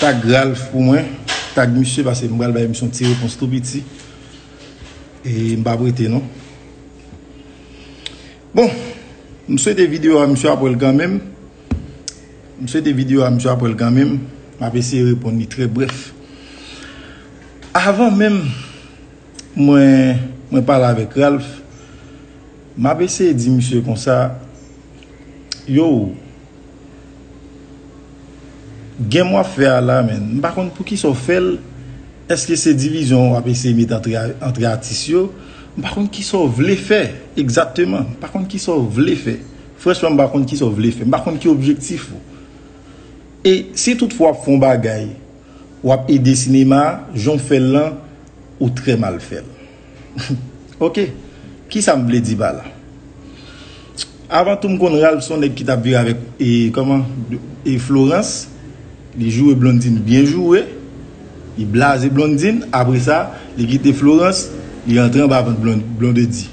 Tag Ralph pou mwen Tag misye pase m pral bay misye yon ti repons tou piti E m pa prete non. Bon M swete video a misye ap wèl kanmenm M swete video a misye ap wèl kanmenm M ap eseye reponn li trè brèf Avan menm Mwen Mwen pale avèk Ralph M ap eseye di misye konsa Yow Game wap fè a la menn m pa konn poukisa w fèl eske se divizyon wap eseye met antre atis yo m pa konn kisa w vle fè egzakteman m pa konn kisa w vle fè franchman m pa konn kisa w vle fè m pa konn ki objektif ou e si tout fwa wap fè yon bagay wap ede sinema jan w fèl lan ou trè mal fèl. Ok, kisa m vle di pa la? Avan tou m konn Ralph son nèg ki tap viv avèk e kòman e Florence, li joure Blondine byen joure, li blaze Blondine, apre sa li kite Florence, li antre anba vant Blondedy.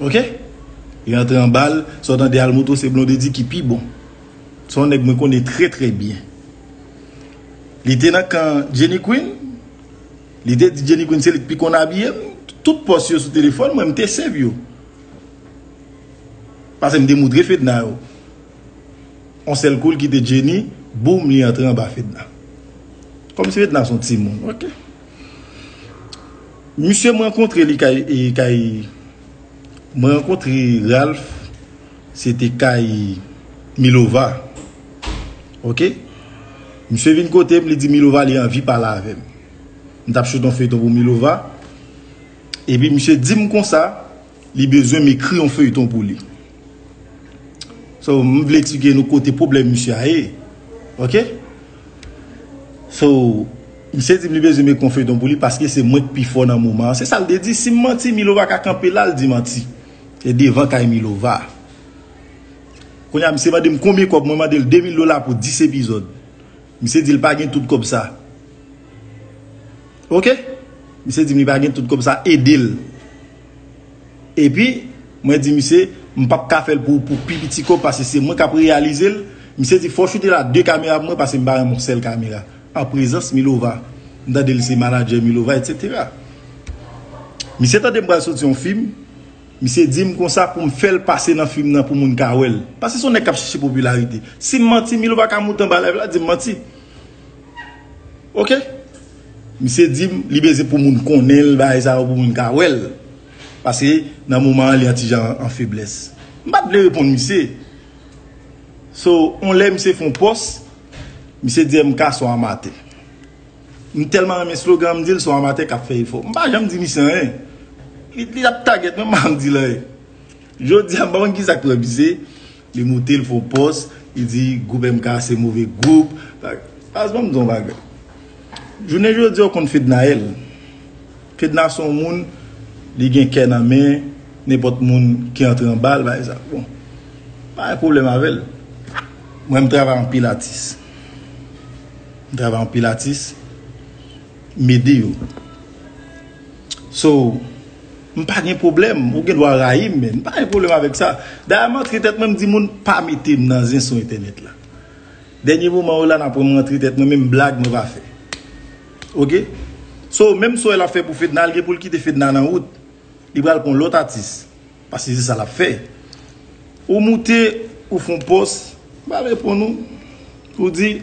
Ok? Li antre anba l, sa w tande Almoto se Blondedy ki pi bon. Se yon nèg mwen konnen trè trè byen. Li te nan kan Jenny Queen? Li te di Jenny Queen se li k pi konn abiye m, tout pòs yo sou telefòn mwen m te save yo. Pase m te moutre Fedna yo. On sèl kou l kite Jenny, boum li antre anba Fedna. Kòm si Fedna son timoun, ok. Misye m rankontre li kay, kay, m rankontre Ralph. Se te kay Milova Ok Misye vin kote m li di Milova li anvi pale avè m M tap choute yon feyton pou Milova Epi misye di m konsa Li bezwen m ekri yon feyton pou li So m vle eksplike nou kote pwoblèm misye a ye Ok So Misye di m li bezwen m ekri yon feyton pou li paske se mwen k pi fò nan moman an Se sa l te di Si m manti Milova ka kanpe la l di manti. Se devan kay milova. Konya misye mandem konbyen kob mwen mandel 2000 dola pou 10 epizod. Misye dil pa gen tout kob sa. Ok. Misye dim li pa gen tout kob sa edel. Epi mwen di misye m pap ka fel pou pi piti kob pase se mwen kap reyalizel. Misye di fò choute la 2 kamera pou mwen pase m pa renmen yon sel kamera. An prezans milova m tande li se manager milova etc. Misye tande m pral soti yon film misye dim konsa poum fèl pase nan film nan pou moun ka wèl paske son nèg kap chèche popularité sim manti milova ka moute anba live la dim manti ok misye dim li bezyen pou moun konnenl bagay sa yo pou moun ka wèl paske nan moman an li yon ti jan an feblès m pat vle reponn misye. So on lè misye fon pòs misye di MK son amatè m tèlman renmen slogan an m dil son amatè kap fè efò m pa janm di misye anyen li ap tagèt mwen m pa janm dil anyen jodi a m pa konn kisa k pran misye li moute l fon pòs li di gwoup MK se move gwoup baz banm di yon bagay jounen jodi a ou konn Fednaelle. Fedna son moun li gen kè nan men nenpòt moun ki antre anbal bay zak bon m pa gen pwoblèm avèl mwen m travay anpil atis m travay anpil atis m ede yo so m pa gen pwoblèm ou gen dwa rayi m men m pa gen pwoblèm avèk sa dayè m antre tèt mwen m di moun pa mete m nan zen sou entènèt la dènye moman yo la nan pran m antre tèt mwen menm blag mwen pa fè. Ok So menm so el ap fè pou fedna li gen poul kite fedna nan wout li pral pran lot atis paske se sa lap fè ou moute ou fon pos m pa reponn ou ou di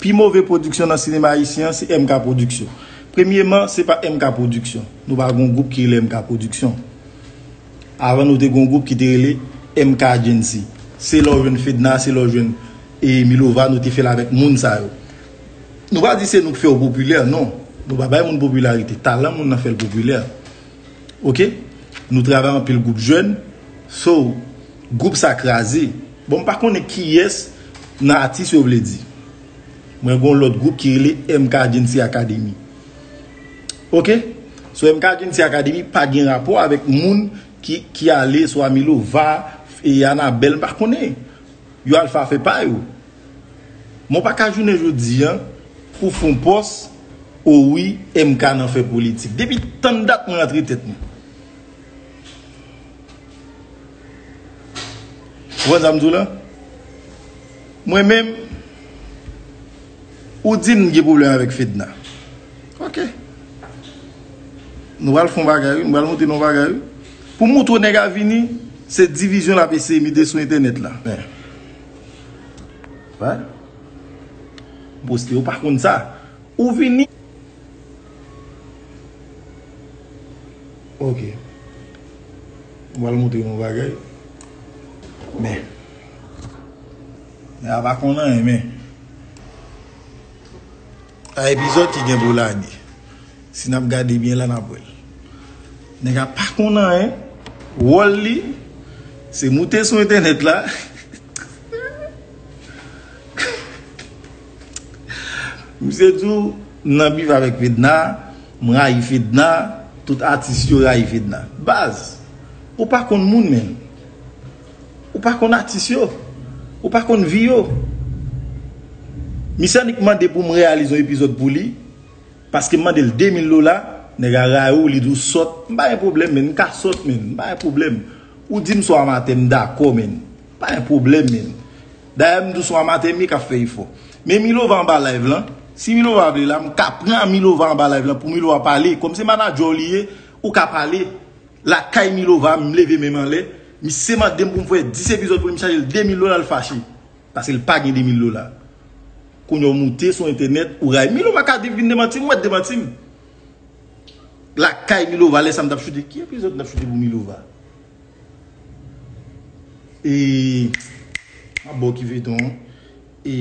pi move production nan sinema ayisyen an se MK production premyeman se pa MK production nou pa gon group ki rele MK production avan nou te gon group ki te rele MK agency se lè w jwenn fedna se lè w jwenn e milova nou te fè l avek moun sa yo. Nou pa di se nou k fèw popilè non Nou pa bay moun popilarite Talan moun nan fèl popilè Ok Nou travay anpil gwoup jèn So gwoup sa kraze Bon m pa konnen kiyès nan atis yo vle di Mwen gon lòt gwoup ki rele MK Jeancy Academy Ok So MK Jeancy Academy pa gen rapò avèk moun ki ale swa Milova Anabelle m pa konnen Yo al fa fe pa yo. Mwen pa ka jounen jodi an pou fon pos o wi MK nan fe politik. Depi tann dat mwen antre tet mwen. Ou konn sa m di w la? Mwen menm ou di m gen pwoblem avek Fedna. Ok. Nou al fon bagay wi. M pral montre nou bagay wi. Pou moutro neg a vini se divizyon lap eseye mete sou entenet la men Wè M poste yo pa konn sa Ou vini Ok M pral moutre nou bagay Men Neg a pa konn anyen men Yon epizod ki gen pou lage. Si nap gade byen la nap wèl. Nèg a pa konn anyen, wòl li se moute sou entènèt la Misye di w m nan bif avèk Fedna, m rayi Fedna, tout atis yo rayi Fedna. Baz, ou pa konn moun menm. Ou pa konn atis yo. Ou pa konn vi yo. Misye annik mande pou m reyalize yon epizòd pou li. Paskem mande l 2000 dola nèg a rayi w li di w sòt m pa gen pwoblèm menn m ka sòt menn m pa gen pwoblèm ou di m son amatè m dakò menn m pa gen pwoblèm menn dayè m di w son amatè Mika ap fè efò men Milova anba live lan si Milova vle la m ka pran Milova anba live lan pou Milova pale kòm se manadjè w li ye ou ka pale lakay Milova m leve men m anlè misye mande m pou m fè 10 epizòd pou li m chaje l 2000 dola l fache. Paske l pa gen 2000 dola. Kounya w moute sou entènèt ou rayi Milo Macardif vin demanti m, wè demanti m. Lakay Milova lè sa m t ap choute. Ki epizòd m t ap choute pou Milova? E. M ap ba w ki feyton an. E.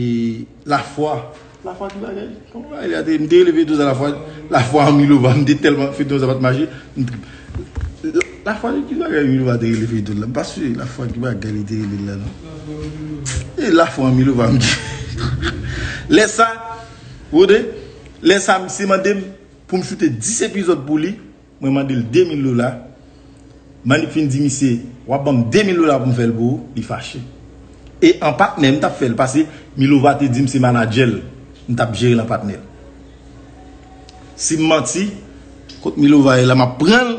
Lafwa. La foi ki bagay. Bon bagay li a te. M te rele feyton sa la foi. La foi an Milova. M te telman feyton sa pat mache. M trip. La foi ki bagay Milova te rele feyton la. M pa si la foi ki bagay li te rele l la non. E la foi an Milova m di. Lè sa. Wode. Lè sa misye mande m pou m choute 10 epizod pou li. Mwen mande l 2 mil dola. Manip fin di misye, w ap ban m 2 mil dola pou m fè l pou ou, li fache. E an patnè m t ap fè l pase Milova te di m se manadjè l m t ap jere l an patnè. Si m manti, kot Milova ye la m ap pran l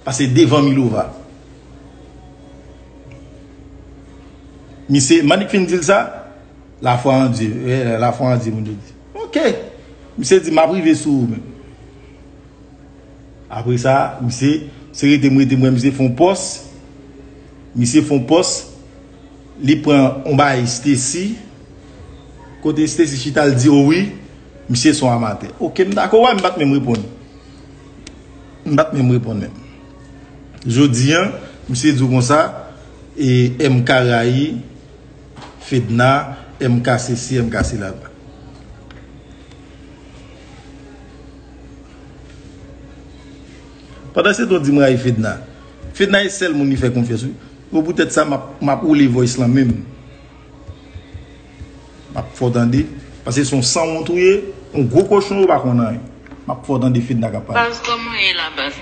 pase devan Milova. Misye, Manip fin di l sa, lafwa an Dye, lafwa an Dye moun yo di. Ok! Misye di m ap rive sou ou men. Apre sa misye se rete m rete m wè misye fon pòs misye fon pòs li pran yon bagay Stacy kote Stacy chita l di owi misye son amatè ok m dakò wè m pat menm reponn m pat menm reponn menm jodi an misye di w konsa e MK rayi Fedna MK sesi MK sela. Pandan se tan w di m rayi Fedna. Fedna e sèl moun li fè konfyans wi. Bon pou tèt sa m ap woule voice lan menm. M ap fè w tande. Pase se yon sanwont ou ye. Yon gwo kochon ou pa konn anyen. M ap fè w tande Fedna k ap pale. Baz kòman w ye la baz.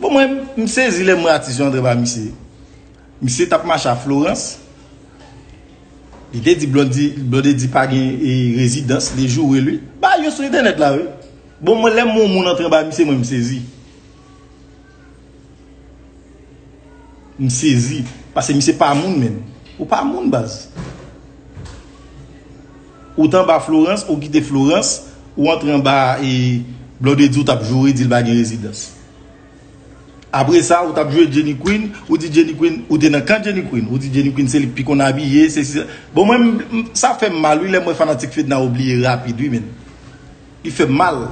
Bon mwen m sezi lèm wè atis yo antre ba misye. Misye tap mache a Florence. Li te di Blondedy pa gen residans, li joure li. Bagay yo sou entènèt la wi. Bon mwen lèm wè yon moun antre ba misye mwen m sezi. M sezi. Pase misye pa moun menm. Ou pa moun baz. Ou t anba Florence ou kite Florence ou antre anba e Blondedy ou tap joure dil pa gen rezidans Apre sa ou tap jwe Jenny Queen ou di Jenny Queen ou te nan kan Jenny Queen ou di Jenny Queen se li k pi konn abiye sesi sa Bon mwen sa fèm mal wi lèm wè fanatik Fedna ou bliye rapid wi menn. Li fèm mal.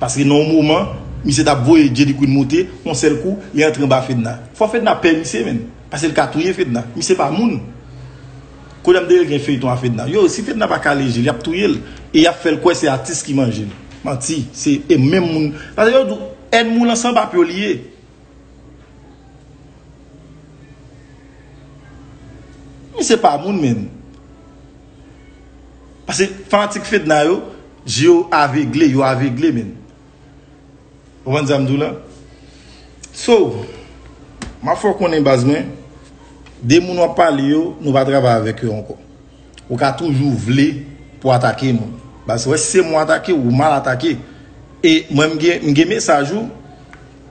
Paske nan yon moman, misye tap voye Jay-D Queen moute, yon sèl kou, li antre anba Fedna. Fò Fedna pè misye menm. Paske li ka touye Fedna. Misye pa moun. Koulye a m dèyè gen feyton a Fedna. Yo, si Fedna pa kale je l, yap touye l. E yap fè l kwè se atis ki manje l. Manti. Se e menm moun. Paske yo di w, ènmi w lan san pap yo li ye. Misye pa moun menm. Pase fanatik fedna yo je yo avegle yo avegle menn ou konn sam di w la so map fè w konnen baz mwen de moun wap pale yo nou pa travay avèk yo ankò ou ka toujou vle pou atake moun baz wè si se mwen atake ou mal atake e mwen m gen mesaj ou.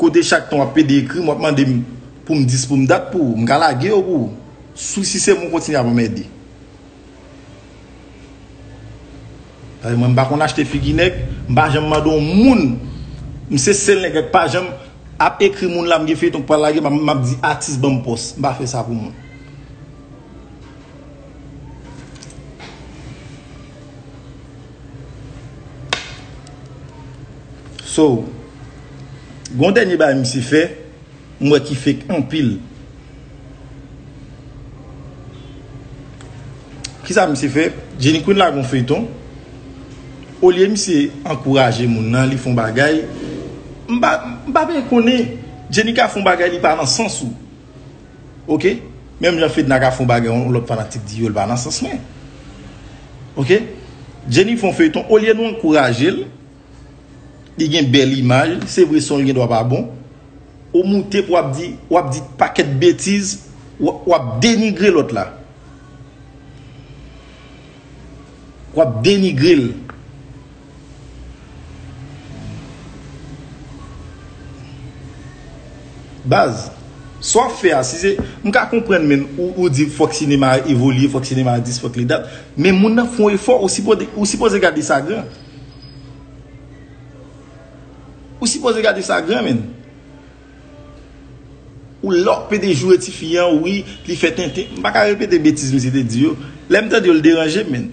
Kote chak tan wap pede ekrim wap mandem poum dis poum dat pou ou. M ka lage yo pou ou. Sou si se mwen kontinye ap anmède. Paske mwen m pa konn achte figi nèg, m pa janm mande yon moun. M se sèl nèg ak pa janm ap ekri moun la m gen feyton k pral lage map di atis banm pòs. M pa fè sa pou moun. So, gon dènye bagay misye fè, m wè ki fake anpil. Kisa misye fè? Jenny Queen lage yon feyton, olye misye ankouraje moun nan, li fè yon bagay, m pa byen konnen, Jenny ka fè yon bagay li pa nan sans ou. Ok menm jan fedna ka fon bagay yon lot fanatik di yo li pa nan sans mwen ok jenny fon feyton olye nou ankourajel li gen bel imaj se vre son li gen dwa pa bon ou moute pou wap di wap di paket betiz wap denigre lot la wap denigrel. Baz, sa w ap fè a, si se, m ka konprann menn ou di fòk sinema a evolye, fòk sinema a dis, fòk li dat, men moun nan fon efò, ou sipoze gade sa gran. Ou sipoze gade sa gran menn. Ou la w ap pede joure ti fi an, wi, li fè tenten, m pa ka repete betiz misye te di yo, lè m tande yo l deranje m menn.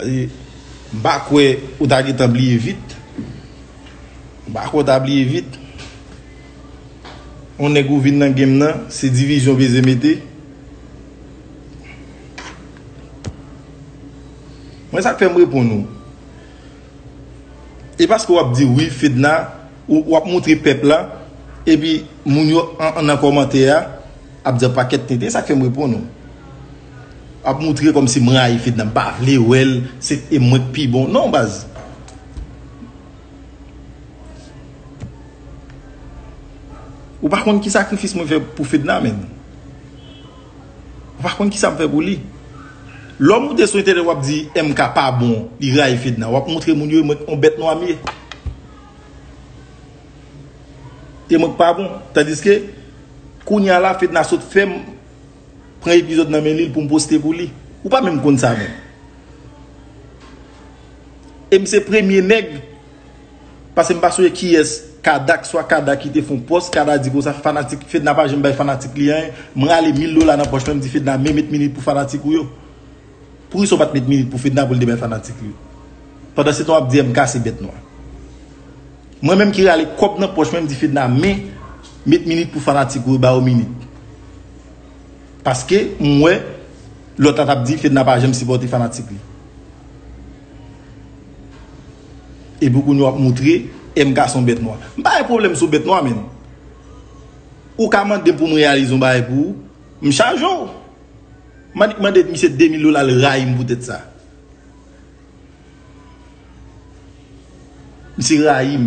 M pa kwè ou ta gentan bliye vit. M pa kwè w ta bliye vit. On nèg ou vin nan game nan, se divizyon w beze mete. Mwen sa k fè m reponn ou. E paske w ap di wi Fedna, w ap montre pèp la, epi moun yo nan kòmantè a ap di an pakèt tenten, sa k fè m reponn ou. Wap moutre komsi m rayi fedna m pa vle wèl se e mwen k pi bon non baz. Ou pa konn ki sakrifis mwen fè pou fedna menm. Ou pa konn kisam fè pou li. Lò moute sou entènèt wap di MK pa bon li rayi fedna wap moutre moun yo e mwen k on bèt nwa m ye. E mwen k pa bon tandiske kounya la fedna sot fèm. Pran epizod nan men lil poum poste pou li. Ou pa menm konn sa menm. Em se premye neg pase m pa sonje kiyes kada kswa kada ki te fon post kada di konsa fanatik fedna pa janm bay fanatik li anyen m rale mil dola nan poch mwen m di fedna men met minit pou fanatik ou yo. Poukisa ou pat met milik pou fedna poul te bay fanatik li yo pandan se tan wap di MK se bèt nwa mwen menm ki rale kòb nan pòch mwen mdi fedna men met minik pou fanatik ou yo ba yo minik paske m wè lòt la tap di fedna pa janm sipòte fanatik li epi kounye wap moutre MK son bèt nwa m pa wè pwoblèm sou bèt nwa menn ou ka mande poum reyalize yon bagay pou ou m chaje w. M annik mande misye 2000 dola l rayi m poutèt sa. Misye rayi m.